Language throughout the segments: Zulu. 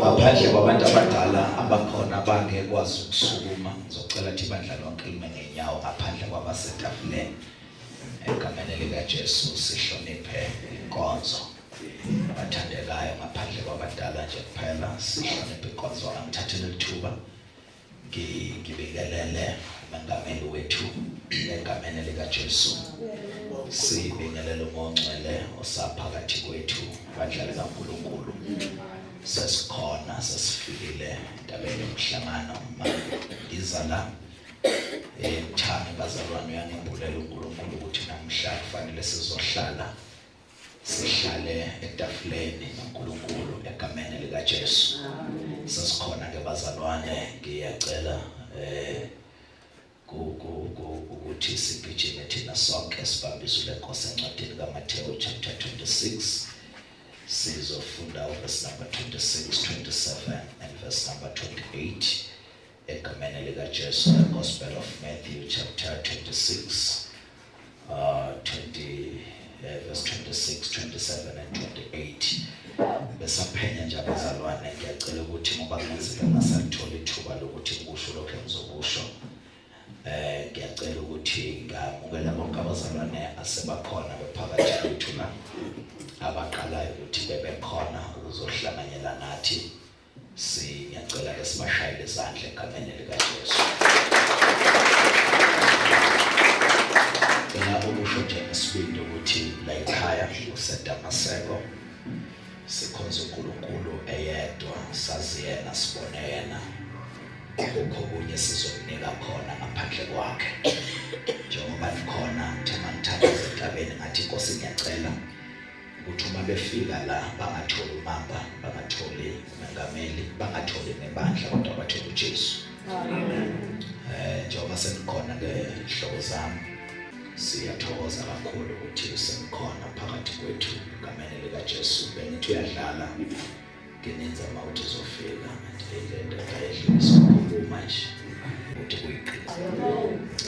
ngaphandle kwabantu abadala abakhona abangekwazi ukusukuma ngizocela thi bandla lonke lime ngenyawo ngaphandle kwabasetafuleni egameni likajesu sihloniphe inkonzo bathandekayo ngaphandle kwabadala nje kuphela sihloniphe inkonzo angithathele lithuba Ngibingelele emangameni wethu egameni likaJesu. Sibingelele uMongcwele osaphakathi kwethu bandla likaNkulunkulu. Sesikhona sesifikile endabeni yomhlangano uma ngiza la emthane eh, bazalwane uyangembulela uNkulunkulu ukuthi namhla kufanele sizohlala Sihlale etafuleni noNkulunkulu egameni likaJesu. Sasikhona ke bazalwane ngiyacela eh ukuthi sigijime thina sonke sibambise lenkosi encwadini kaMathewu chapter 26 sizofunda uverse number 26 27 and verse number 28 Egameni lika Jesu the Gospel of Matthew chapter 26 uh 20 uh, verse 26 27 and 28 besaphenya nje abazalwane ngiyacela ukuthi ngoba kungenzeka ngasalithola ithuba lokuthi ngikusho lokho engizokusho eh ngiyacela ukuthi ngamukela bonke abazalwane asebakhona bephakathi kwethu na abaqalayo ukuthi bebekhona ukuzohlanganyela nathi Siyacela ke sibashayele izandla egameni likaJesu. Ngicela ukusho nje ngesibindi ukuthi la ekhaya kuseDamaseko sikhonza uNkulunkulu eyedwa sazi yena sibone yena akukho kunye sizokunika khona ngaphandle kwakhe njengoba nikhona ngithe mangithatha esigabeni ngathi inkosi ngiyacela ukuthi uma befika la bangatholi umamba bangatholi umengameli bangatholi nebandla kodwa bathole uJesu amen eh njengoba senikhona ke hlobo zami siyathokoza kakhulu ukuthi usekhona phakathi kwethu ngamenele kaJesu bengithi uyadlala ngenenza uma uthi zofika ngilenda ngayedlulisa ukukhuluma nje ukuthi kuyiqiniso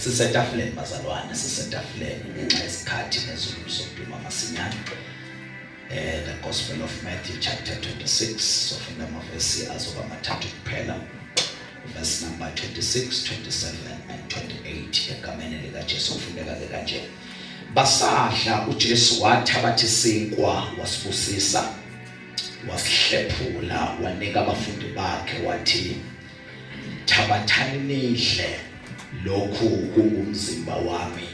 sisetafuleni bazalwane sisetafuleni ngenxa yesikhathi nezulu sokuduma masinyane eh the gospel of Matthew chapter 26 sofunda amavesi azoba mathathu kuphela verse number 26 27 and 28 egameni lika Jesu ufundeka ke kanje basadla uJesu wathabatha isinkwa wasibusisa wasihlephula wanika abafundi bakhe wathi thabathani nidle lokhu kungumzimba wami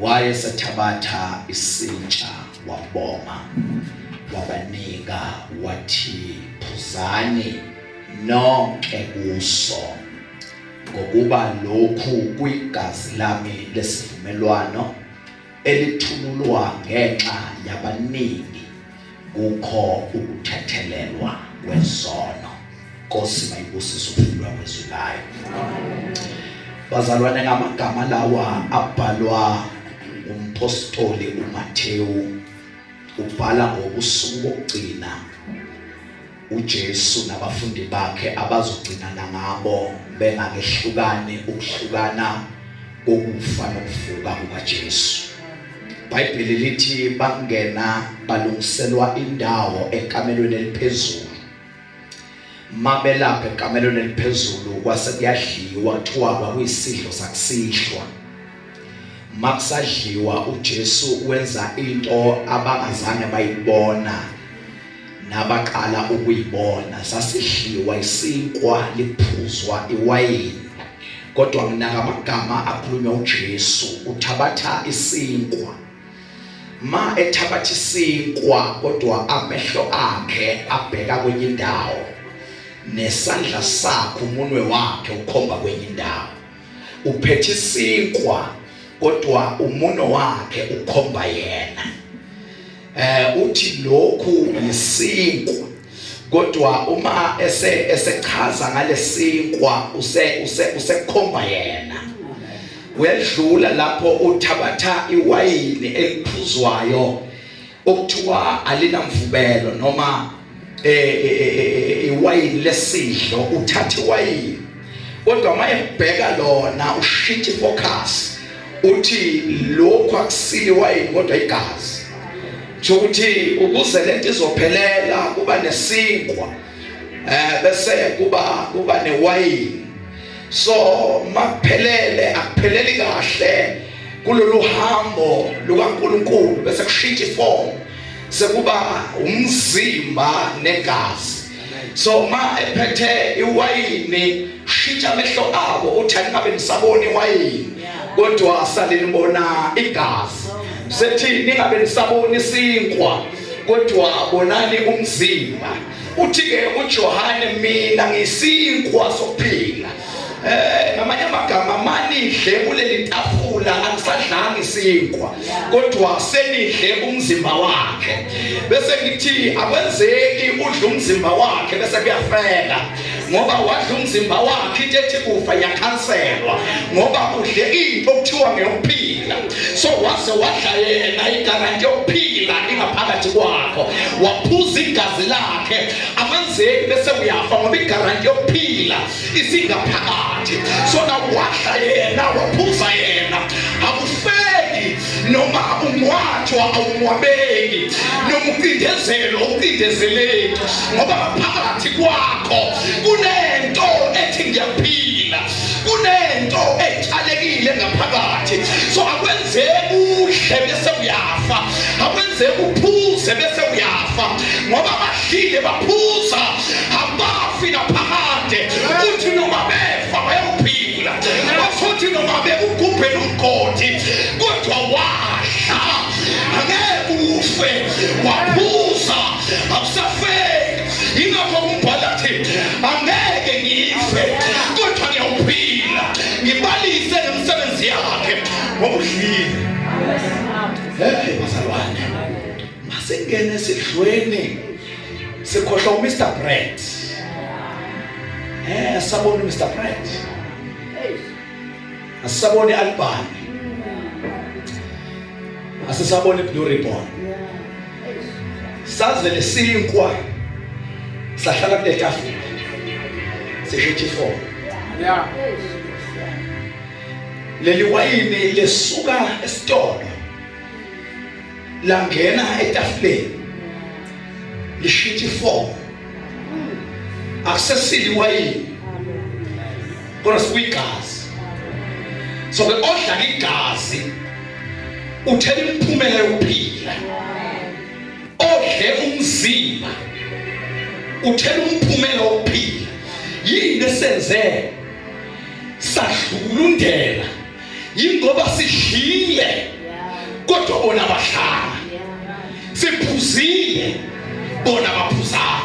wayesethabatha isintsha waboma wabanika wathi phuzani nonke kuso ngokuba lokhu kuyigazi lami lesivumelwano elithululwa ngenxa yabaningi kukho ukuthethelelwa kwesono Nkosi mayibusise ukufundwa kwezwi layo bazalwane ngamagama lawa abhalwa umpostoli uMathewu ubhala ngobusuku bokugcina uJesu nabafundi bakhe abazogcinana ngabo bengakehlukani ukuhlukana kokufa nokuvuka kukaJesu iBhayibheli lithi bangena balungiselwa indawo ekamelweni eliphezulu mabelapha ekamelweni eliphezulu kwase kuyadliwa kuthiwa kwakuyisidlo sakusihlwa makusadliwa uJesu wenza into abangazange bayibona nabaqala ukuyibona sasidliwa isinkwa liphuzwa iwayini kodwa nginaka amagama akhulunywa uJesu uthabatha isinkwa ma ethabatha isinkwa kodwa amehlo akhe abheka kwenye indawo nesandla sakhe umunwe wakhe ukhomba kwenye indawo uphethe isinkwa kodwa umuno wakhe ukhomba yena eh uthi lokhu yisinkwa kodwa uma ese esechaza ngalesinkwa use use usekhomba yena uyadlula lapho uthabatha iwayini eliphuzwayo okuthiwa alinamvubelo noma e, e, e, iwayini lesidlo uthatha iwayini kodwa uma ebheka lona ushintsha ifocus uthi lokhu akusile iwayini kodwa igazi kusho ukuthi ukuze lento izophelela kuba nesinkwa eh bese kuba kuba newayini so makuphelele akupheleli kahle kulolu hambo lukaNkuluNkulu bese kushintsha iform sekuba umzimba negazi so uma ephethe iwayini shitsha amehlo abo uthi angabe nisabona iwayini kodwa salinibona igazi sethi ningabe nisabona isinkwa kodwa bonani umzimba Uthi-ke uJohane mina ngisinkwa sokuphila. Eh ngamanye amagama manidle kuleli tafula angisadlanga isinkwa kodwa senidle umzimba wakhe bese ngithi akwenzeki udla umzimba wakhe bese kuyafela ngoba wadla umzimba wakhe into ethi kufa yakhanselwa ngoba udle into okuthiwa ngeyokuphila so waze wadla yena igaranti yokuphila ingaphakathi kwakho waphuza igazi lakhe amanzeki bese uyafa ngoba igaranti yokuphila isingaphakathi so nawadla yena waphuza yena akufeli noma ungwathwa awungwabeki noma ucindezelo ucindezeleki ngoba ngaphakathi kwakho kunento ethi ngiyaphila kunento etshalekile ngaphakathi so akwenzeki udle bese uyafa akwenzeki uphuze bese uyafa ngoba abadlile baphuza abafi naphakade uthi noma befa bayophila futhi noma bekugubhe nomgodi kodwa wadla angeke ufe waphuza akusafeki yingakho umbhala thi angeke ngife kodwa ngiyawuphila ngibalise nemisebenzi yakhe ngokudlile hey bazalwane masingene esidlweni sikhohlwa uMr Brand eh sabona uMr Brand asisaboni album asisaboni blue ribbon saze lesinkwa sahlala kule tafula sishithi four yeah leli wayini lesuka esitolo langena etafuleni lishithi four akusesili wayini kodwa sikuyigazi so ke odla igazi uthela imiphumela yokuphila odle umzimba uthela umphumela wokuphila yini esenze sadlukulundela yingoba sidlile kodwa bona bahlala siphuzile bona baphuzana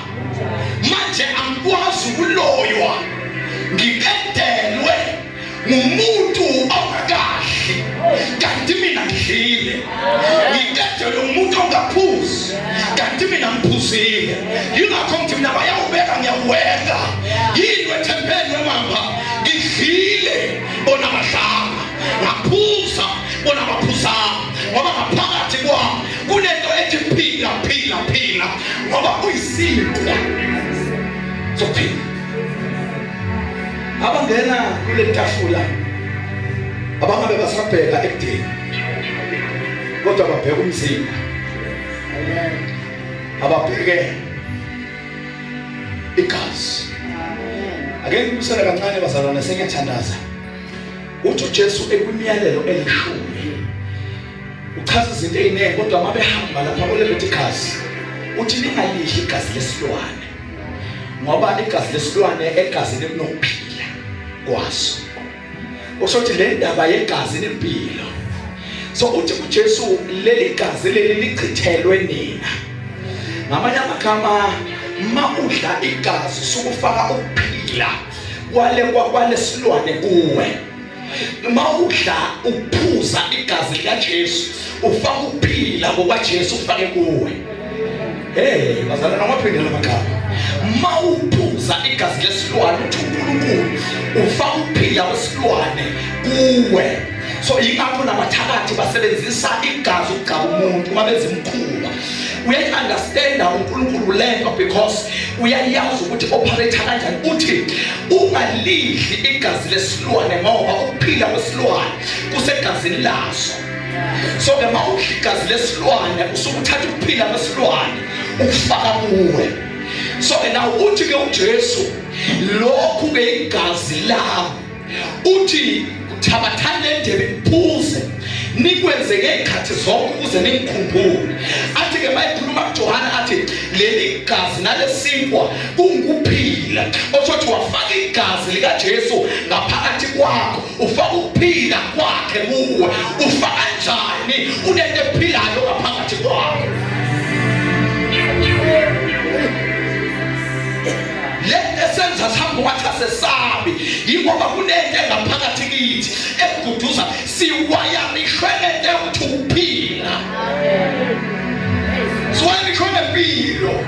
manje angikwazi ukuloywa ngikedelwe ngumuntu ongakadli kanti mina ngidlile ngikedelwe ngumuntu ongaphuzi kanti mina ngiphuzile yingakho ngithi mina bayawubeka ngiyawuweka yini wethempeni wemamba ngidlile bona badlanga ngaphuza bona baphuzanga ngoba ngaphakathi kwami kunento ethi phila phila phila ngoba kuyisinkwa sophila abangena kule tafula abangabe basabheka ekudeni kodwa babheka umzimba ababheke igazi ake ngibusele kancane bazalwane sengiyathandaza uthi uJesu ekwimiyalelo elishumi uchaza izinto eziningi kodwa uma behamba lapha olebethi igazi uthi ningalidli igazi lesilwane ngoba igazi lesilwane egazini kunokuphila kwaso usho ukuthi le ndaba yegazi nempilo so uthi kuJesu leli gazi leli lichithelwe nina ngamanye amagama ma udla igazi sukufaka ukuphila kwale kwalesilwane kuwe uma udla uphuza igazi likaJesu ufaka ukuphila ngoba Jesu ufake kuwe Hey, bazalwana amaphinde lamagama. Uma uphuza igazi lesilwane uthi uNkulunkulu ufaka ukuphila kwesilwane kuwe. So ingakho nabathakathi basebenzisa igazi ukugcaba umuntu uma benza imkhuba. Uyayiunderstanda uNkulunkulu lento because uyayazi ukuthi operate kanjani. Uthi ungalidli igazi lesilwane ngoba ukuphila kwesilwane kusegazini laso. so ke mawudla igazi lesilwane usuke uthatha ukuphila kwesilwane ukufaka kuwe so ke naw uthi ke uJesu lokhu ke igazi lami uthi thabathani le ndebe niphuze nikwenze ngey'khathi zonke ukuze ningikhumbule athi-ke mayikhuluma kujohane athi leli gazi nalesinkwa kungukuphila osho ukuthi wafaka igazi likajesu ngaphakathi kwakho Ufaka ukuphila kwakhe kuwe. Ufaka njani unento ephilayo ngaphakathi kwakhe? Lento esenza sihambe wathi asesabi yingoba kunento engaphakathi kithi ekududuza siwayanishwe lento yokuthi ukuphila. Siwayanishwe nempilo.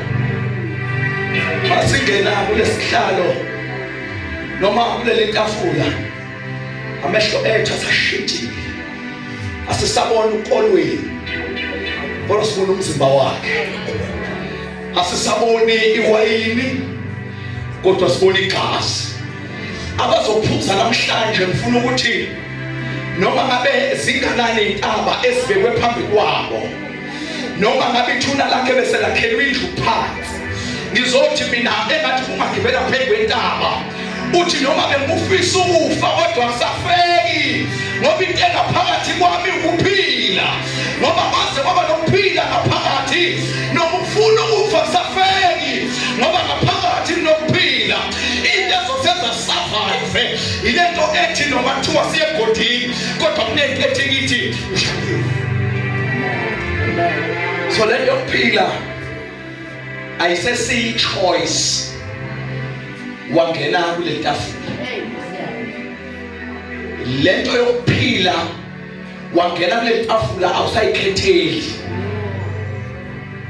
Masingenako lesihlalo noma kulele tafula amehlo ethu asashintshile asisabona ukolweni kodwa sibona umzimba wakhe asisaboni iwayini kodwa sibona igazi abazophuza namhlanje ngifuna ukuthi noma ngabe zinganani intaba ezibekwe phambi kwabo noma ngabe ithuna lakhe bese lakhelwa indlu phansi ngizothi mina engathi kungagibela phezu kwentaba uthi noma bengufisa ukufa kodwa kusafeki ngoba into engaphakathi kwami ukuphila ngoba kwaze kwaba nokuphila ngaphakathi noma ukufuna ukufa kusafeki ngoba ngaphakathi kunokuphila into ezosenza survive yile nto ethi noma kuthiwa siyegodini kodwa kunento ethi kithi Ushadiwe. So le yokuphila ayisesiyi choice wangena kule tafula. Le nto yokuphila wangena kule tafula awusayikhetheli.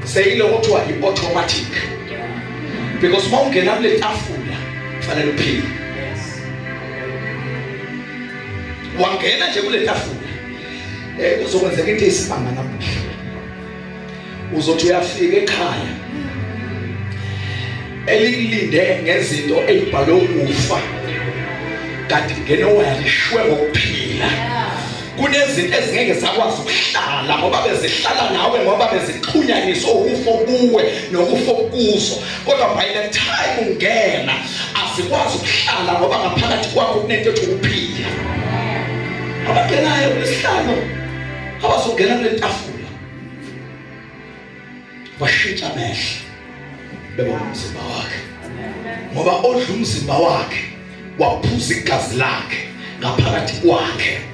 Seyiloko kuthiwa i-automatic. Because uma ungena kule tafula kufanele uphile. wangena nje kule tafula eh kuzokwenzeka into eyisimanga namuhla uzothi uyafika ekhaya elilinde ngezinto ezibhalwe ukufa kanti ngene wayalishwe ngokuphila kunezinto ezingeke zakwazi ukuhlala ngoba bezihlala nawe ngoba bezixhunyaniswe ukufo kuwe nokufo kuzo kodwa by the time ungena asikwazi ukuhlala ngoba ngaphakathi kwakho kunento ethi ukuphila abagenayo kulesihlalo abazongena kule tafula bashintsha amehlo bebona umzimba wakhe ngoba odla umzimba wakhe waphuza igazi lakhe ngaphakathi kwakhe